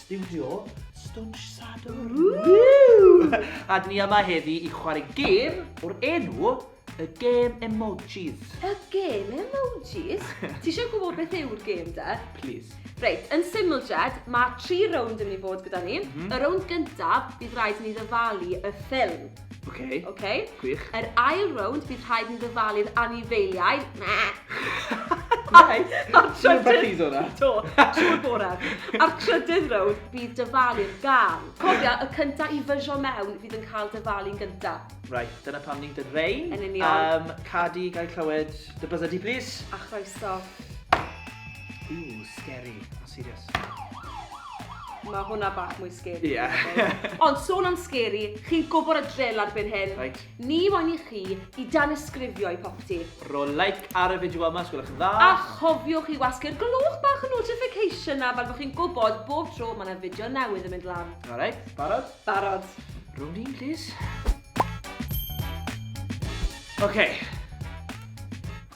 Stiwdio Stwnsh Sadwrn. A ni yma heddi i chwarae gêm o'r enw y gêm emojis. Y gêm emojis? Ti eisiau gwybod beth yw'r gêm da? Please. Reit, yn syml Jed, mae tri rownd yn mynd i fod gyda ni. Mm -hmm. Y rownd gyntaf, bydd rhaid ni ddyfalu y ffilm. Oce. Okay. Oce? Gwych. Yr ail rownd, bydd rhaid ni ddyfalu'r anifeiliaid. Na! Neu, a'r trydydd... o'na. Do, trwy'r bore. A'r trydydd rownd, bydd dyfalu'r gan. Cofia, y cynta i fysio mewn fydd yn cael dyfalu'n gynta. Right, dyna pam ni'n dyn rein. Yn union. Um, cadi, gael clywed dy bydded di, please. A chroeso. Ooh, scary. A serious. Mae hwnna bach mwy scary. Ie. Yeah. Ond sôn am scary, chi'n gwybod y drill ar byn hyn. Right. Ni moyn i chi i dan ysgrifio i popty. Ro like ar y fideo yma, sgwylwch yn dda. A chofiwch i wasgu'r glwch bach y notification na, fel bod chi'n gwybod bob tro mae yna fideo newydd yn mynd lan. Alright, barod? Barod. Rwy'n ni'n please. Okay.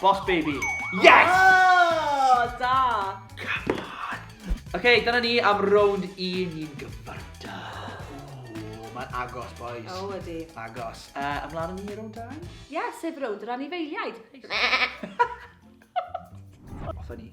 Boss baby. Yes! Oh, da! Come on! OK, dyna ni am rownd i ni'n gyfarta. Ooh, mae'n agos, boys. O, oh, ydy. Agos. Uh, ymlaen ni rownd da? Ie, yeah, sef rownd yr anifeiliaid. Off ni.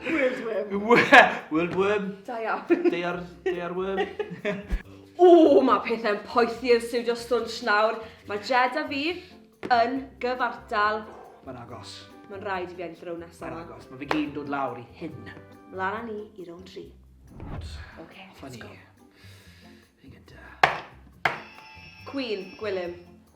World worm. World worm. Da iawn. Deiar, deiar worm. O, mae pethau'n poethi yn Studio Stunch nawr. Mae Jed a fi yn gyfartal. Mae'n agos. Mae'n rhaid i fi ennill rown nesaf. Mae'n agos. Mae fi gyd dod lawr i hyn. Mlaen â ni i rown tri. OK, let's go. Fi'n gyda. Queen, Gwilym.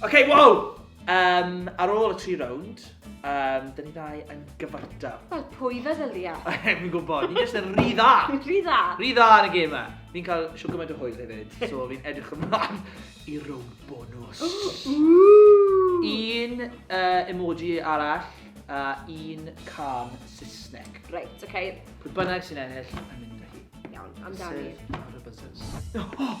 Ok, wow! Um, ar ôl y tri rownd, um, dyn ni ddau yn gyfartal. Wel, pwy feddylia? Fi'n gwybod, ni jyst yn rhy dda. rhy dda. Rhy dda yn y gêm yma. Fi'n cael siw gymaint o hwyl hefyd, so fi'n edrych ymlaen i rownd bonus. un uh, emoji arall a un can Saesneg. Reit, oce. Okay. Pwy bynnag sy'n ennill yn mynd â hi. Iawn, amdani. Sef ar y buzzers. Oh!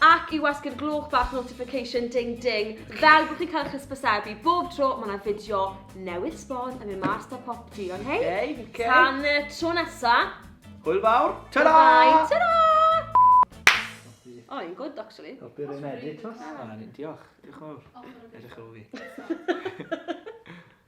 Ac i wasgu'r gloch bach notification ding ding fel bod chi'n cael eich hysbysebu bob tro mae yna fideo newydd sbon yn mynd mas da pop di, ond hei, okay, okay. tan y tro nesa. Hwyl fawr, ta-da! Bye, ta-da! O, oh, yn gwrdd, actually. O, byr yn edrych, tos. Diolch, diolch yn fawr. Edrych ar ôl fi.